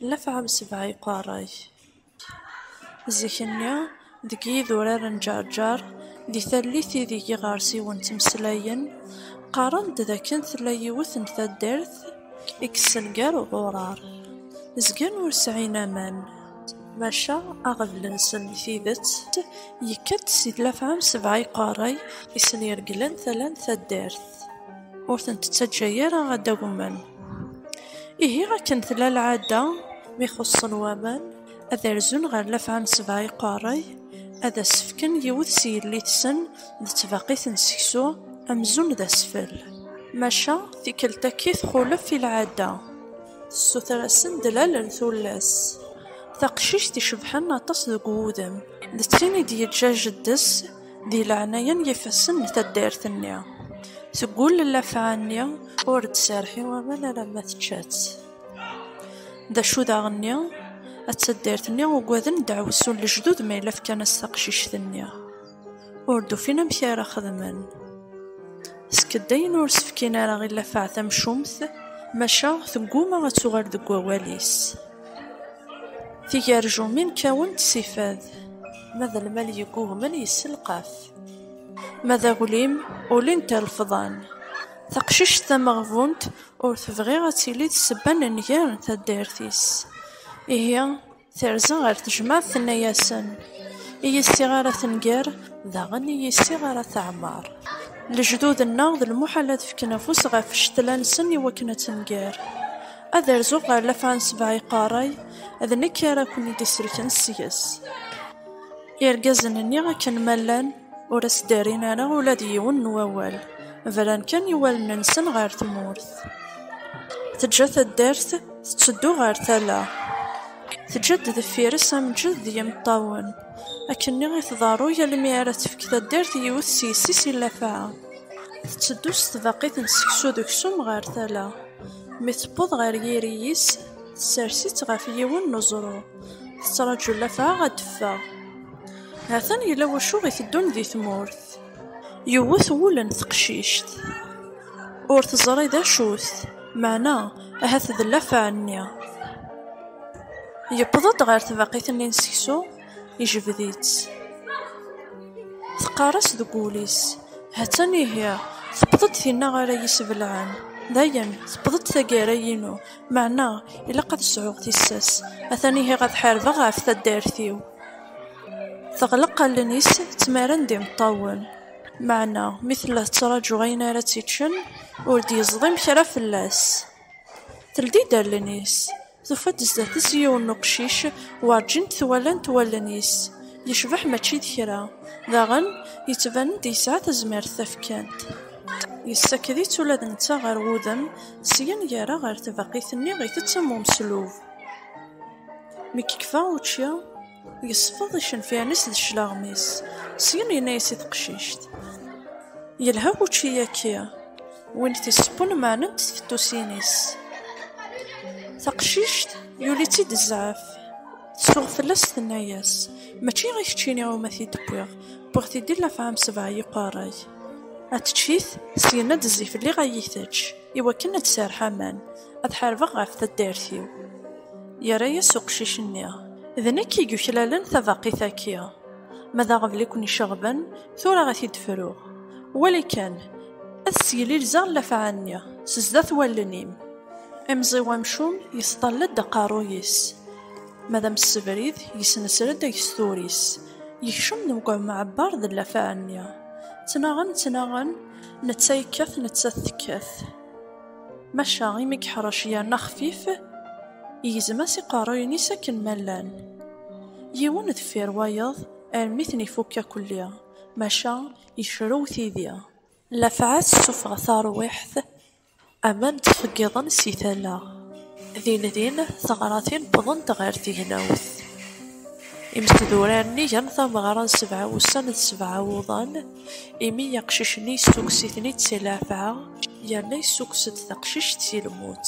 Lafɛa n sebɛa iqeṛṛa-k. Zik-nni, deg yidurar n Ǧeṛǧeṛ, di tallit ideg iɣersiwen ttmeslayen, qqaren-d d akken tella yiwet n taddart i yessen gar uɣuṛaṛ, zgan ur sɛin aman, maca aɣbel-nsen n tidet yekka-d si Lafɛa n sebɛa iqeṛṛa-k i sen-iregglen tala n taddart, ur ten-tettaǧǧa ara ad d-agmen. Ihi akken tella lɛada mi xuṣṣen waman, ad rzun ɣer lafɛa n sebɛa iqerray, ad as-fken yiwet s yelli-tsen d tbaqit n seksu, amzun d asfel. Maca tikkelt-agi txulef i lɛada, tessuter-asen-d lal n tullas, taqcict icebḥen aṭas deg wudem, d tin i d-yeǧǧa jeddi-s, Di leɛnaya n yifassen n taddart-nni, seg wul n lafɛa-nni ur d-serrḥi aman alamma tečča-tt. D acu daɣen-nni? A taddart-nni ugaden ddeɛwessu n lejdud ma yella fkan-as taqcict-nni, ur d-ufin amek ara xedmen. Ssked ayen ur s-fkin ara i lafɛa tamcumt, maca tegguma ad tuɣal deg wawal-is. Tigarjumin kkawent si fad. Ma d lmal yeggugmen yesselqaf. Ma d aglim ulin-t irefḍan. Taqcict tameɣbunt ur tebɣi ad tili d ssebba n nnger n taddart-is. Ihi terza ɣer tejmaɛt tenna-yasen, I yissiɣ ara tenger, daɣen i yissiɣ ara teɛmer. Lejdud-nneɣ d lmuḥal ad fken afus ɣef ccetla-nsen i wakken ad tenger. Ad rzuɣ ɣer lafaɛ n sebɛa iqerray. D nekk ara ken-id-isellken seg-s. Irgazen-nni akken ma llan ur as-d-rrin ara ula d yiwen n wawal, bran kan i wallen-nsen ɣer tmurt. Teǧǧa taddart tetteddu ɣer tala. Teǧǧa-d deffir-s amǧed d yimeṭṭawen. Akkenni i tḍerru yal mi ara tefk taddart i yiwet s yessi-s i llafɛa. Tetteddu s tbaqit n seksu d uksum ɣer tala. Mi tewweḍ ɣer yiri-is, tessers-itt ɣef yiwen n uẓru, tettraǧu lafaɛ ad d-teffeɣ. Ha-t-an yella wacu iteddun di tmurt. Yewwet wul n teqcict. Ur teẓri d acu-t, meɛna ahat d lafaɛ-nni. Yewweḍ-d ɣer tbaqit-nni n seksu. ijbed-itt. Teqqar-as deg wul-is, Ha-tt-an ihi, tewweḍ-d tinna ara yi-sbelɛen. Dayen, tewweḍ-d taggara-inu, meɛna ilaq ad sɛuɣ tissas, ha-t-an ihi ad ḥarbeɣ ɣef taddart-iw. Teɣleq allen-is ttmaren d imeṭṭawen, meɛna mi tella tettraǧu ayen ara tt-iččen, ur d-yeẓḍim kra fell-as. Teldi-d allen-is. Tufa-d zdat-s yiwen n uqcic werǧin t-walant wallen-is, yecbeḥ mačči d kra, daɣen yettban-d yesɛa tazmert tafekant. Yessaked-itt ula d netta ɣer wudem, syen yerra ɣer tbaqit-nni itett am umeslub. Mi yekfa učči. Yesfeḍ icenfiren-is d cclaɣem-is, syen yenna-yas i teqcict, Yelha wučči-yaki, win t-isebbun meɛnent tfettusin-is. Taqcict yuli-tt-id zzɛaf, tsuɣ fell-as tenna-yas, Mačči i keččini iwumi t-id-wwiɣ, wwiɣ-t-id i llafɛa n sebɛa yiqerray. Ad tečč-it, syen ad d-tezzi fell-i ad yi-tečč, iwakken ad d-serrḥ aman, ad ḥarbeɣ ɣef taddart-iw. Yerra-yas uqcic-nni. D nekk i yuklalen tabaqit-agi. Ma d aɣbel i ken-iceɣben, tura ad t-id-fruɣ. Wali kan, ad sseglilzeɣ llafɛa-nni s zdat wallen-im. Imẓiw amcum yesṭall-d aqerruy-is. Ma d amessebrid, yesnesred agesturi-s. Yekcem deg umɛebber d llafɛa-nni. Ttnaɣen, ttnaɣen, netta yekkat, nettat tekkat. Maca imi yeḥṛec yerna xfif, igzem-as iqerruyen-is akken ma llan, yiwen deffir wayeḍ armi ten-ifukk akelli, maca yecrew tidi. Lafɛa tessufeɣ tarwiḥt, aman ttxeggiḍen si tala. Din din, teɣratin wwḍent ɣer tegnawt. Imesdurar-nni gan tameɣra n sebɛa wussan d sebɛa wuḍan. Imi aqcic-nni yessukkes-iten-id si leɛfeɛ, yerna yessukkes-d taqcict si lmut.